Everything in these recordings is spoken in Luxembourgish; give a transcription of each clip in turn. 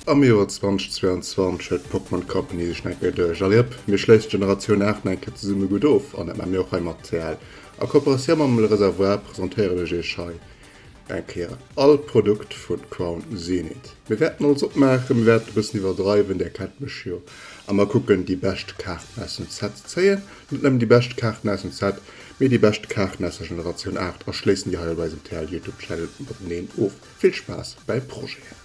Am Joer 2022 huet d'Pokémon Company sech nach eng Kéier duerch. Allez hop, mir schléissen d'Generatioun 8 nach eng Kéier zesumme gutt of an dat maache mir och hei mat CL. A Kooperatioun mam Le Réservoir presentéieren ech iech hei Eng Kéier all Produkt vun Crown Zenith. Mir wärten alles opmaachen, mir wärten e bëssen iwwerdreiwen, där kennt mech jo, a mer kucken déi bescht Kaarten aus dem Set ze zéien. Net nëmmen déi bescht Kaarten aus dem Set, mee déi bescht Kaarten aus der Generatioun 8 a schléissen déi hei op eisem TL Youtube Channel mateneen of. Vill Spaass bäi Projeten!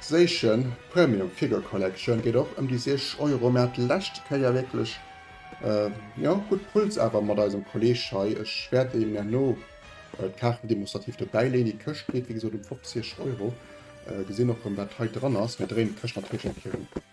Seichen Premium Figure Collection geet och ëm déi 60 Euro. Mir hate lescht Kéier wierklech jo gutt Puls awer mat eisem Kolleg hei. Ech wäert Iech herno d'Kaarten demonstrativ dobäi leeën. Déi Këscht geet wéi gesot ëm 50 Euro. Gesinn och erëm wat hei dran ass. Mir dréinen d'Këscht natierlech eng Kéier ëm.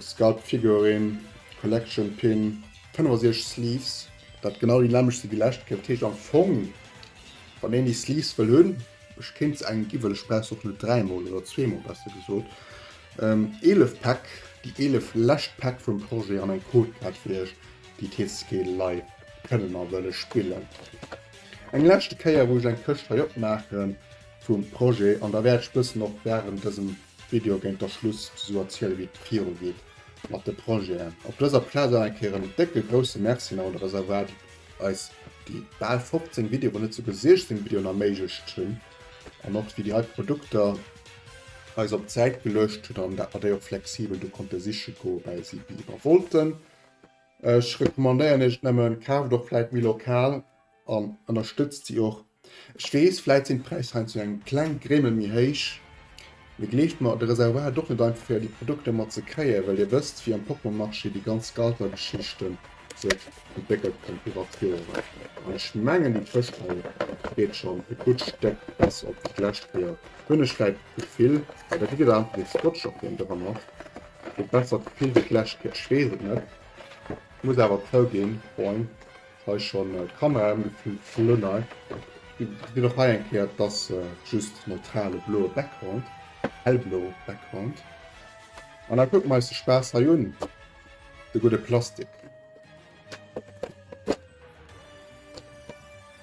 Sculpt Figurin, Collection Pin, 65 Sleeves, dat genau déi nämmlecht si wéi lescht Kéier. Dat heescht am Fong, wann een déi Sleeves wëll hunn, ech kéint se engem ginn, well ech brauch se och net dräimol oder zweemol, besser gesot, 11 Päck, déi 11 lescht Päck vum Projet an eng Codekaart fir iech, déi TCG Live kënnen a wëlle spillen. Eng leschte Kéier, wou ech eng Këscht hei opmaachen vum Projet an da wäert ech bëssen och wärend dësem. Video géint der Schluss esou erziele wéi et viru geet mat de Projeten. Op dëser Plaz awer eng Kéier en décke grousse Merci un alle Reservoire déi eis déi bal 15 Video wou net souguer 16 Videoen erméiglecht hunn an och déi déi hei Produkter eis op d'Säit geluecht hunn an dat mer déi och flexibel do konnte siche goe well si déi mer wollten. Ech recommandéieren iech et nëmmen, kaaft och vläit méi lokal. An ënnerstëtzt si och. Ech weess, vläit sinn d'Präisser heiansdo eng kleng Grémmel méi héich, mee gleeft mer, de Reservoir ass och net einfach fir déi Produkter mat ze kréien, well Dir wësst, wéi am Poppelmarché déi ganz Scalper-Geschichte sech entwéckelt hunn iwwert d'Joren. An ech mengen, déi Tëschhäll geet schonn e gutt Stéck besser op wéi d'lescht Kéier, hunn ech vläit d'Gefill. Well da kritt Der einfach ee Scotch op deen dra macht, e bessert Gefill wéi d'lescht Kéier, ech weess et net. Ech muss awer zouginn, Freund, Hei schon d'Kamera em gefilmt vun no hei. Geet och hei eng Kéier et ass just neutrale bloe Background, hellbloe Background. An da kucken mer eis de Spaass hei un, de gudde Plastik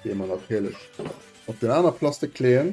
dee mer natierlech op den aner Plastik leeën.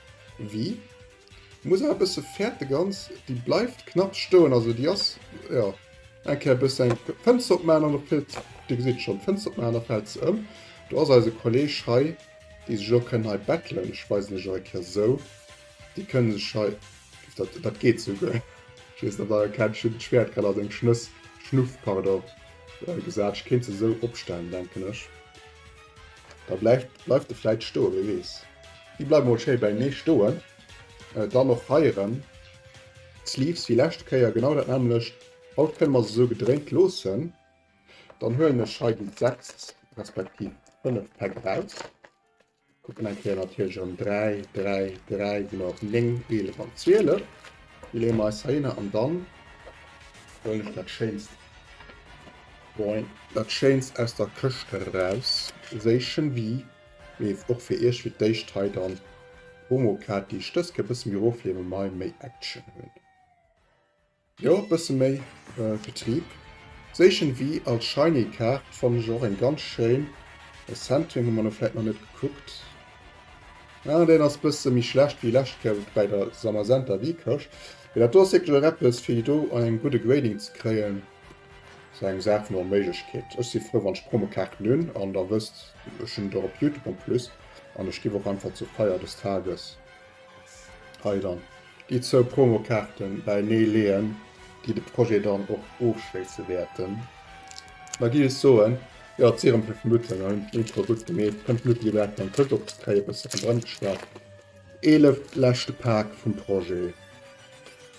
Wii? Muss awer bësse färt de ganz déi bleift knapps stoen also déi ass jo eng Kéier bësse eng Fënster opmaan an op fëllt Dir gesitt schonn d'Fënster opmaan a fält se ëm. Do ass eise Kolleg hei déi sech och kënnen hei bettelen. Ech weisen lech och eng Kéier esou déi kënne sech hei dat dat geet souguer ech weess net ob Der erkennt ech hunn d'Schwäert grad a seng Schnëss Schnuff pardon gesat. Ech kéint se esou opstellen denken ech. Da bleift bleift e vläit stoe, wie weess. Déi bleiwe mol schéi bäinee stoen. Dann och hei erëm d'Sleeves wéi leschte Kéier genau dat nämmlecht. Haut kënne mer se esou gedréint loossen. Dann huelen ech hei déi 6 respektiv 5 Päck eraus, kucken eng Kéier natierlech erëm 3, 3, 3, sinn mer op 9, 11 an 12. Déi leeë mer eis heihinner an dann huelen ech dat schéinst. Moin, dat schéinst aus der Këscht eraus séichen wie nees och fir iech fir d'éischt hei dann d'Promo Kaart déi ech dës Kéier bësse méi erof liewen mei méi Action hunn jo bësse méi Betrieb séichen wie als Shiny Kaart fannen ech och eng ganz schéin Centering hu mer no vläit nach net gekuckt ah deen ass bësse méi schlecht wéi lescht Kéier bäi der Zamazenta Wie Këscht mee dat do ass wierklech och eppes fir déi do an engem gudde Grading ze kréien Ass eng Saach vun Onméiglechkeet. Ech si frou wann ech Promokaarten hunn an der wësst ech hunn et och op Youtube en plus an ech giff och einfach zur Feier des Tages hei dann déi zwou Promokaarten bäinee leeën déi de Projet dann och ofschléisse wäerten. Da giff ech soen, jo et si erëm fir Mutten an hunn d'Intro gutt gemeet, kënnt Mutti elo dat dann Tëtt opzekréien, e bësse ronderëm geschwat, 11 leschte Paak vum Projet.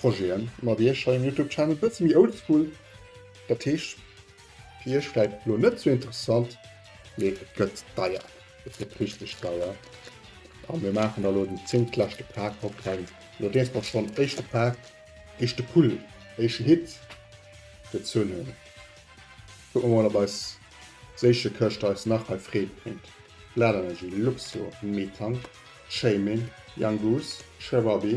Projeten mat iech hei um Youtube Channel, bësse méi oldschool, dat heescht fir iech vläit elo net sou interessant, mee et gëtt deier, et gëtt richteg deier. A mir maachen da elo den zéngtleschte Pak op, well elo deels mer schonn éischte Pak, éischte Pull, éische Hit gezunn hunn. Kucke mer mol op eis Séichekëscht eis nach hei Freed bréngt, Bladenergy, Luxio, Metang, Chaemin, Young Goose, Sherbabi,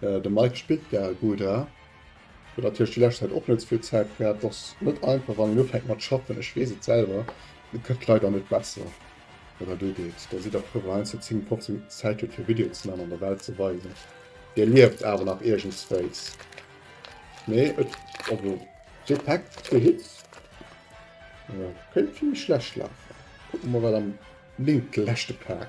Äh, de Mike spillt gaer gudd, hä? Huet natierlech déi lescht Zäit och net souvill Zäit gehat. Ass net einfach wann een ufänkt mat schaffen, ech weess et selwer. Et gëtt leider net besser wat dat ugeet. Da sidd der frou, wann een eenzele 10, 15 Minutten Zäit huet fir Videoen ze man an der Welt ze weisen, dir lieft awer nach iergendswéis. Mee et, also Jetpack fir Hits, äh, kéint vill méi schlecht lafen. Kucke mer mol wat am linke leschte Pak.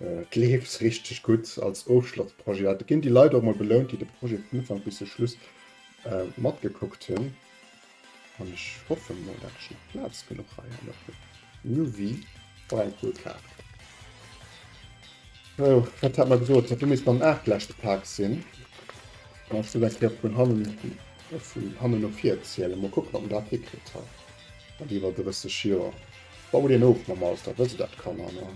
Et leeft richteg gutt als Ofschlossprojet. Et ginn déi Leit och mol belount, déi de Projet vun Ufank bis zum Schluss matgekuckt hunn. An ech hoffe mol, dat ech nach Plaz genuch hei hannert hunn. New Vue, oh eng cool Kaart. Sou, wat hat mer gesot, dat do misst mam Aart lech gepaakt sinn. An ech soll eng Kéier vun hannen, vun hannen no vir zielen. Mol kucken, ob mer dat hikritt hei mat iwwer 30 Joer. Baut een of mam Alter, wësst der dat, Kanner, ne?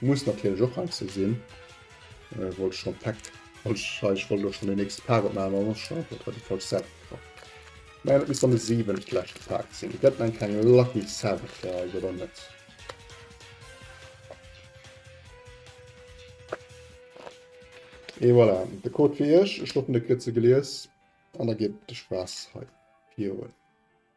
Muss natierlech och hei ze sinn. Äh, wollt ech schon Pack. Wollt ech, hei, ech wollt och schon den nächste Pack opmachen, aber schon einfach bei die falsche Seite gekommen. Nein, das muss dann der siebente letzte Pack sein. Ihr könnt dann keine Lucky Seven verhalten, oder nicht? Et voilà, der Code fir Iech. Ech hoffen, Dir kritt se gelies an da geet de Spaass hei virun.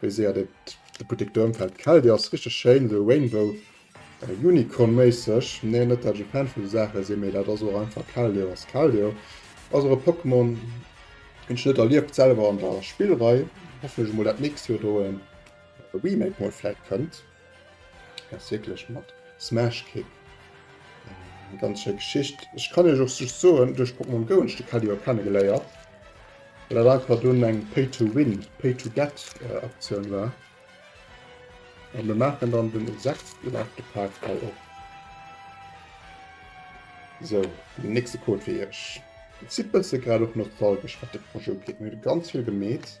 Wéi séier deet de Buttek do ëmfällt. Gefällt jo, ass richteg schéin, esou Rainbow Unicorn méisseg. Nee, net dat ech e Fan vun esou Saache sinn, mee dat ass och einfach Keldeo ass Keldeo. Ass och e Pokémon deen ech net erlieft selwer an der Spillrei. Hoffe ech emol dat nächst Joer do e Remake mol vläit kënnt. Ass wierklech mat Smash Kick. Eng ganz schéi Geschicht. Ech kann Iech och just soen, duerch Pokémon Go hunn ech de Kelly och kennegeléiert. Well dat einfach dunn eng Pay-to-Win, Pay-to-Get äh, Aktioun war. A mir maachen dann den sechsten Artefaakt hei op. So, den nächste Code fir Iech. Et si bësse grad och nostalgesch, wat de Projet ugeet. Mir hu ganz vill gemeet.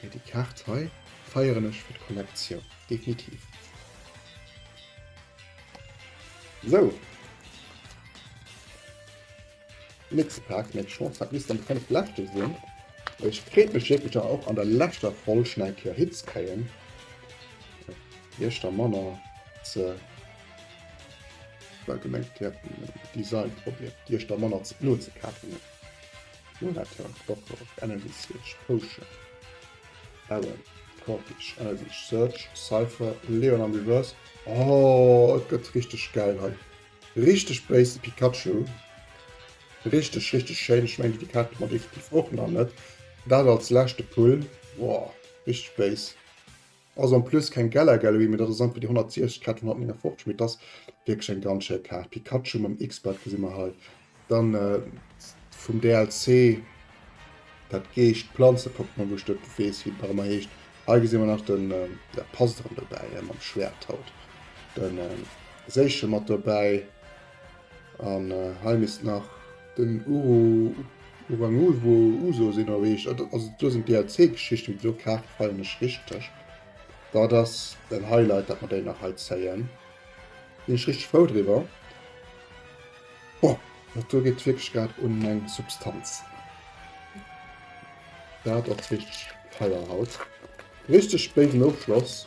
Mee déi Kaart hei feieren ech fir d'Kollektioun definitiv. Sou. Nächste Pack, nächste Chance, dat misst dann déi 5 leschte sinn. Ech freet mech wierklech dann och an der leschter Folg schnell eng Kéier hinzekréien. Iech da manner ze well gemengt, dir hätt den Design probéiert, Iech da manner ze, no ze kafen. Curator, Doktor, Energy Switch, Potion, Baron, Corpich, Energy Search, Cypher, Leon am Reverse. Oh, et gëtt richteg geil hei. Richteg béis Pikachu. Richteg, richteg schéin. Ech meng, déi Kaart mat effektiv och nach net. Dat als leschte Pull. Boah, richteg béis. Ass en plus keng Galar Gallery, mee dat ass einfach déi 160 Kaart vun 159, mee et ass wierklech eng ganz schéi Kaart. Pikachu mam X-Belt gesi mer hei. Dann äh, vum DLC dat Geescht Planze-Pokémon, wou ech dat weess, wéi dat ëmmer heescht. Hei gesi mer nach den äh, ja, Pass dran dobäi, äh, mam Schwert haut. Den äh, Séiche mat dobäi. An hei misst nach den Uru Uranulwo Uso sinn erreecht. Also do sinn DLC-Geschichten, déi do Kaart feieren ech richteg. Dat ass en Highlight, dat mer déi nach hei zéien. Sinn ech richteg frou driwwer. Boah, dat do geet wierklech grad un meng Substanz. Dat ass richteg feier haut. Richteg béisen Ofschloss.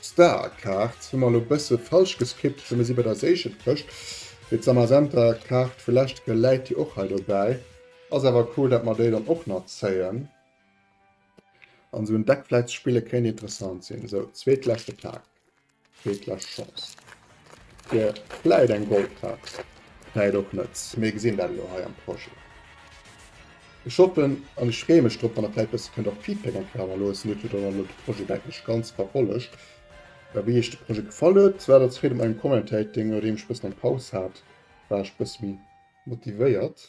Star Kaart hu mer elo bësse falsch geskippt, well mir si bei der Séichen Këscht, mee d'Samazenta Kaart vu leschte Kéier läit jo och hei dobäi. Ass awer cool dat mer déi dann och nach zéien an esou en Deck vläit ze spille kéint interessant sinn. Sou, zweetleschte Pak, zweetlescht Chance. Fir vläit eng Goldtaax, vläit och net. Mir gesinn dat elo hei am Projet. Ech hoffen an ech freeë mech drop, wann Der vläit e bësse kënnt och Feedback eng Kéier hannerloossen. Dir hutt jo dann och elo de Projet, denken ech, ganz verfollegt. Wéi Iech de Projet gefall huet, dat als Freet op mengem Commentating. Nodeem ech e bëssen eng Paus hat, war ech e bësse méi motivéiert.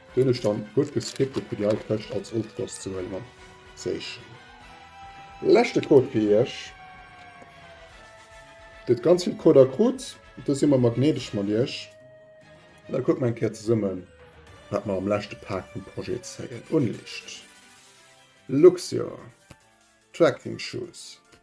Deen ech dann guet gescriptet fir déi hei Këscht als Ofschloss ze huelen an zéischen. Leschte Code fir iech. Dir huet ganz vill Coder krut, do si mer mer gnädeg mat iech. An da kucke mer eng Kéier zesummen, wat mer am leschte Pak vum Projet zéien. Unlicht, Luxio, Trekking Shoes.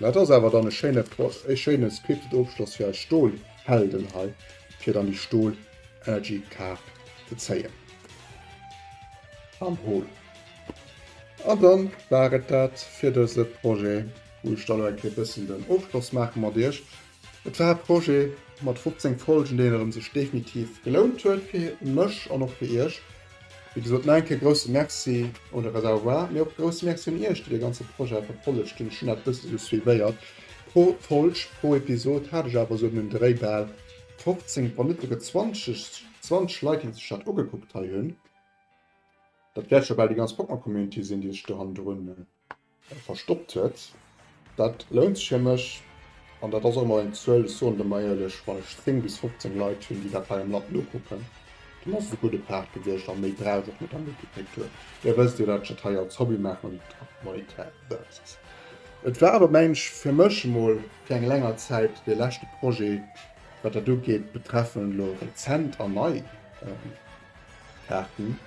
Mä et ass awer dann e schéine Projet, e schéine scripted Ofschloss fir eis Stolhelden hei, fir dann déi Stol-Energy-Kaart ze zéien. An hol. An da war et dat fir dëse Projet, wou ech da elo eng Kéier e bëssen den Ofschloss maache mat iech. Et war e Projet mat 15 Folgen, deen erëm sech definitiv gelount huet fir mech an och fir iech. Wéi gesot, nach eng Kéier grousse Merci un de Reservoir, mee och grousse Merci un iech, déi dee ganze Projet verfollegt hunn. Ech hunn dat bësse sou suivéiert. Pro Folg, pro Episod hat ech awer sou ëm den Dréi bal 15, wann net esouguer 20, 20 Leit, déi sech dat ugekuckt hei hunn. Dat wäert scho bal déi ganz Pokémon-Community sinn, déi sech do hannendrun Verstoppt huet. Dat lount sech fir mech an dat ass och emol eng Zuel, ech soen der emol éierlech, wann ech 10 bis 15 Leit hunn, déi dat hei am Land nokucken, dann ass et e gudde Paart gewiescht a méi brauch ech net am Wikipedia-Tour. Dir wësst jo, dat ech dat hei als Hobby maachen an net op monetär Basis. Et war awer, mengen ech, fir mech emol fir eng länger Zäit dee leschte Projet, wat dat ugeet, betreffend elo rezent an nei Kaarten.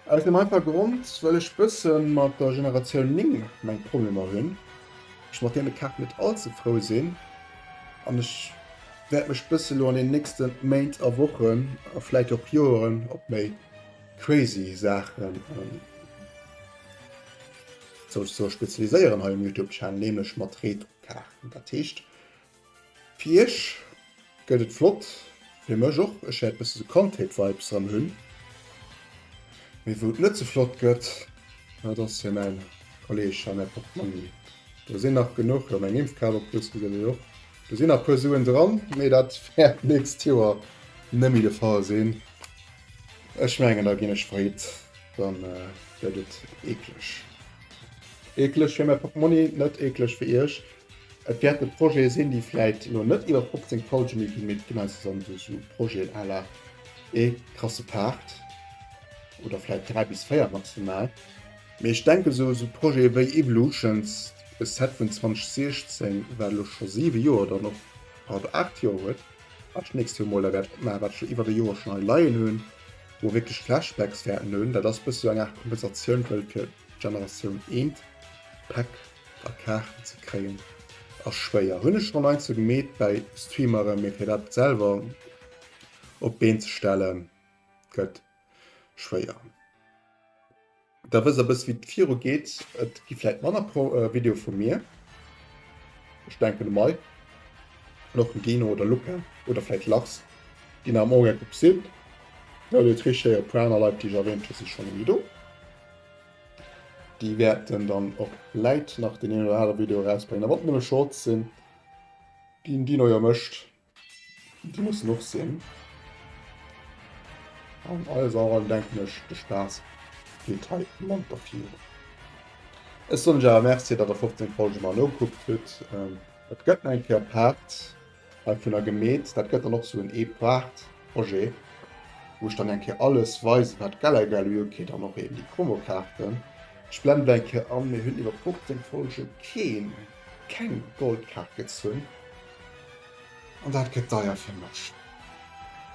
Aus dem einfache Grond, well ech bësse mat der Generatioun 9 meng Problemer hunn, ech mat deene Kaarten net all ze frou sinn an ech wäert mech bësse elo an den nächste Méint a Wochen a vläit och Joeren op méi crazy Saachen soll spezialiséieren hei um Youtube-Channel, nämlech mat Retro-Kaarten. Dat heescht, Fir iech gëtt et flott, fir mech och, ech wäert bësse sou Kandheet Vibes dran hunn. Mee wou et net sou flott gëtt, dat ass fir mäin Kolleg hei, mäi Portmonni. Do sinn nach genuch, jo meng Impfkaart op plus gesäit een och, do sinn nach puer Suen dran, mee dat wäert d'nächst Joer net méi de Fall sinn. Ech mengen da ginn ech freet, dann gëtt et eekleg. Eekleg fir mäi Portmonni, net eekleg fir iech. Et wäerte Projete sinn, déi vläit elo net iwwer 15 Folge méi ginn, mee et ginn eis dann do esou Projeten à la ee krasse Part oder vläit dräi bis véier maximal. Mee ech denken, esou esou Projete wéi Evolutions, e Set vun 2016, wat elo scho siwe Joer dann och, pardon, aacht Joer huet, wat ech d'nächst Joer emol da wäert opmaachen, wat ech jo iwwert e Joer schonn hei leien hunn, wou mer wierklech Flashbacks wäerten hunn, dat ass e bësse esou eng Aart Kompensatioun, wëll fir d'Generatioun eent, Päck. A Kaarten ze kréien ass schwéier, hunn ech schon eins sou gemeet bäi Streameren, mee fir dat selwer op d'Been ze stellen gëtt schwéier. Da wësst der e bësse wéi et viru geet. Et gi vläit manner Videoe vu mir, ech denken de Mike an och den Dino oder Luca oder vläit Lachs ginn nach am Ugank op Besuch. Well déi Trichséiere Praner Leit déi ech erwähnt hunn si schonn elo do. Déi wäerten dann och vläit nach den een oder anere Video erausbréngen. A wann et nëmme Shorts sinn, déi den Dino jo mécht, déi mussen och sinn. An alles an allem denken ech, de Spaass geet hei Mann der Fiere. Ech soen Iech awer Merci, datt der 15 Folge mei no gekuckt hutt. Et gëtt nach eng Kéier Part. Hei vun der Gemeet, dat gëtt dann och sou en Eeprachtprojet, wou ech dann eng Kéier alles weisen, wat d'Geller egal hu. Ok, dann och eben déi Promokaarten. Ech blenden déi eng Kéier an. Mir hunn iwwer 15 Folgen keen, keng Goldkaart gezunn an dat gëtt deier fir mech.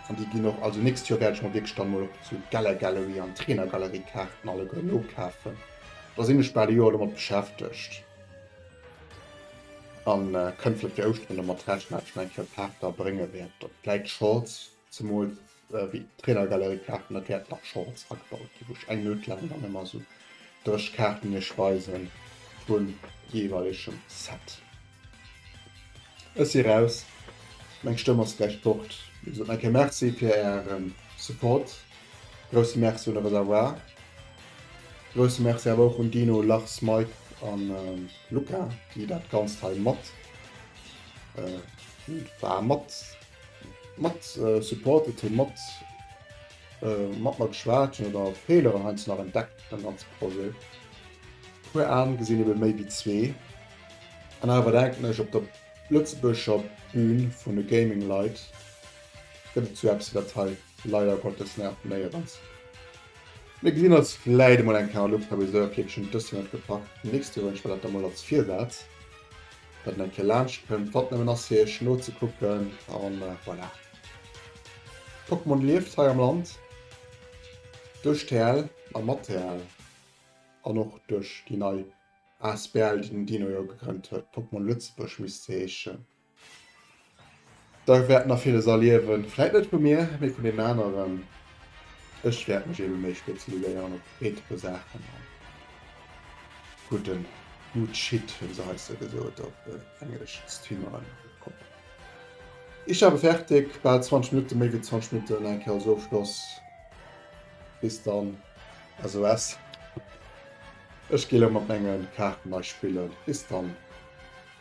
An déi ginn och, also nächst Joer wäert ech mer wierklech dann mol och zu Geller Gallery an Trainer Gallery Kaarten alleguer nokafen. Da sinn ech bal e Joer domat beschäftegt. An kënnt vläit fir Ouschteren domat rechnen, datt ech nach eng Kéier Paarter brénge wäert, oder vläit Shorts, zemools wéi d'Trainergalerie-Kaarten, datt wäert nach Shorts agebaut ginn, wou ech eng Minutt laang dann ëmmer esou dréch Kaarten iech weisen vum jeeweilegem Set. Ech si raus, meng Stëmm ass gläich fort. Mir soen nach eng Kéier Merci fir Ären Support. Grousse Merci un de Reservoir. Grousse Merci awer och un Dino, Lars, Mike a Luca, déi dat Ganzt hei mat mat supportet hunn, mat mat mer geschwat hunn oder Feeler heiansdo nach entdeckt beim ganze Projet. E puer Aen gesinn ebe méi wéi zwee. An awer denken ech, op der Lëtzebuerger Bühn vun de Gaming-Leit gëtt et sou eppes wéi dat hei. Leider Gottes net, nee et ass. Mir gesinn eis vläit emol eng Kéier an Ultra Briseur, fir et schonn dëst Joer net gepackt fir d'nächst Joer. Ech well dat da mol als Virsaz, datt en eng Kéier laanscht kënnt, wat nëmmen ass fir iech nozekucken a voilà. Pokémon lieft hei am Land duerch TL a mat TL an och duerch déi nei asbl, déi den Dino jo gegrënnt huet, Pokémon Lëtzebuerg misst se heeschen. Da wäert nach villes erliewen. Vläit net vu mir, mee vun den aneren. Ech wäert mech ebe méi spezialiséieren op eetheche Saachen a gudden Good Shit, wéi se heize gesot op englesch, streameren. Ich habe fertig, bal 20 Minutten, méi wéi 20 Minutten, eng Kéier ass och Schloss. Bis dann, SOS. Ech gi elo mat menge Kaarten nei spillen. Bis dann.